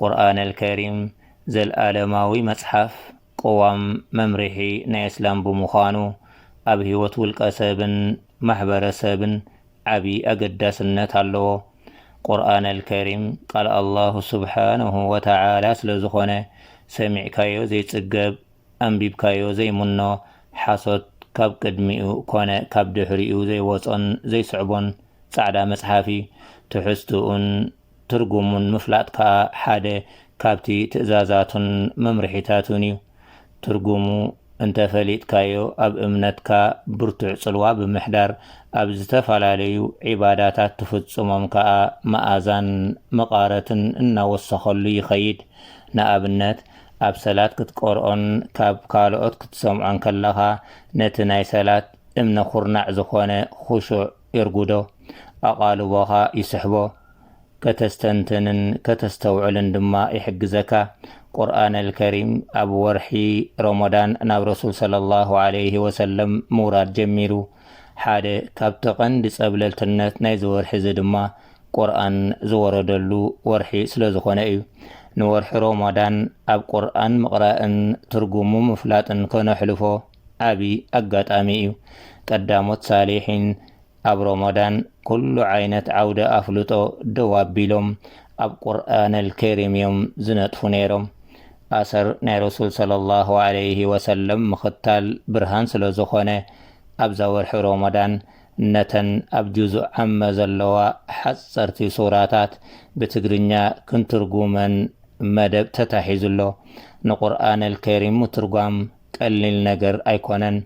ቁርኣነል ከሪም ዘልኣለማዊ መጽሓፍ ቅዋም መምርሒ ናይ እስላም ብምዃኑ ኣብ ህይወት ውልቀ ሰብን ማሕበረ ሰብን ዓቢ ኣገዳስነት ኣለዎ። ቁርኣነል ከሪም ቃል ኣላሁ ሱብሓነሁ ወተዓላ ስለ ዝኾነ ሰሚዕካዮ ዘይጽገብ ኣንቢብካዮ ዘይምኖ ሓሶት ካብ ቅድሚኡ ኮነ ካብ ድሕሪኡ ዘይወጾን ዘይስዕቦን ጻዕዳ መጽሓፍ እዩ። ትሕዝትኡን። ትርጉሙን ምፍላጥ ከኣ ሓደ ካብቲ ትእዛዛቱን መምርሒታቱን እዩ። ትርጉሙ እንተ ፈሊጥካዮ ኣብ እምነትካ ብርቱዕ ጽልዋ ብምሕዳር ኣብ ዝተፈላለዩ ዒባዳታት ትፍጽሞም ከኣ መኣዛን መቓረትን እናወሰኸሉ ይኸይድ። ንኣብነት ኣብ ሰላት ክትቀርኦን ካብ ካልኦት ክትሰምዖን ከለኻ ነቲ ናይ ሰላት እምነ ኩርናዕ ዝኾነ ኹሹዕ የርጉዶ፣ ኣቓልቦኻ ይስሕቦ፣ ከተስተንትንን ከተስተውዕልን ድማ ይሕግዘካ። ቁርኣነል ከሪም ኣብ ወርሒ ሮሞዳን ናብ ረሱል ሰለላሁ ዓለይሂ ወሰለም ምውራድ ጀሚሩ። ሓደ ካብቲ ቀንዲ ጸብለልትነት ናይዚ ወርሒ'ዚ ድማ ቁርኣን ዝወረደሉ ወርሒ ስለዝኾነ እዩ። ንወርሒ ሮሞዳን ኣብ ቁርኣን ምቕራእን ትርጉሙ ምፍላጥን ከነሕልፎ ዓቢ ኣጋጣሚ እዩ ቀዳሞት ሳሊሒን ኣብ ሮሞዳን ኩሉ ዓይነት ዓውደ ኣፍልጦ ደው ኣቢሎም ኣብ ቁርኣነል ከሪም እዮም ዝነጥፉ ነይሮም ኣሰር ናይ ረሱል ሰለሏሁ ዓለይሂ ወሰለም ምኽታል ብርሃን ስለዝኾነ ኣብዛ ወርሒ ሮሞዳን ነተን ኣብ ጁዙእ ዓመ ዘለዋ ሓጸርቲ ሱራታት ብትግርኛ ክንትርጉመን መደብ ተታሒዙ ኣሎ ንቁርኣነል ከሪም ምትርጓም ቀሊል ነገር ኣይኮነን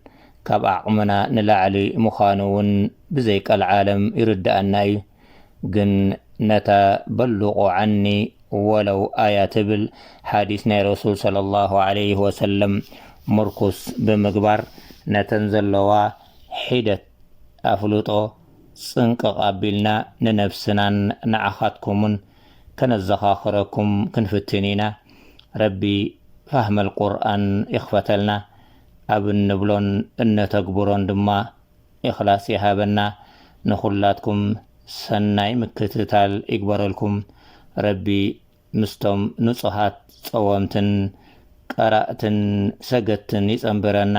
ካብ ዓቕምና ንላዕሊ ምዃኑ ውን ብዘይ ቀልዓለም ይርድኣና እዩ ግን ነታ በሉቁ ዓኒ ወለው ኣያ ትብል ሓዲስ ናይ ረሱል ሰለሏሁ ዓለይሂ ወሰለም ሙርኩስ ብምግባር ነተን ዘለዋ ሒደት ኣፍልጦ ጽንቅቕ ኣቢልና ንነብስናን ንዓኻትኩምን ከነዘኻኽረኩም ክንፍትን ኢና ረቢ ፋህመል ቁርኣን ይኽፈተልና ኣብ እንብሎን እነተግብሮን ድማ ኢኽላስ ይሃበና ንኹላትኩም ሰናይ ምክትታል ይግበረልኩም ረቢ ምስቶም ንጹሃት ጸወምትን ቀራእትን ሰገድትን ይጸንብረና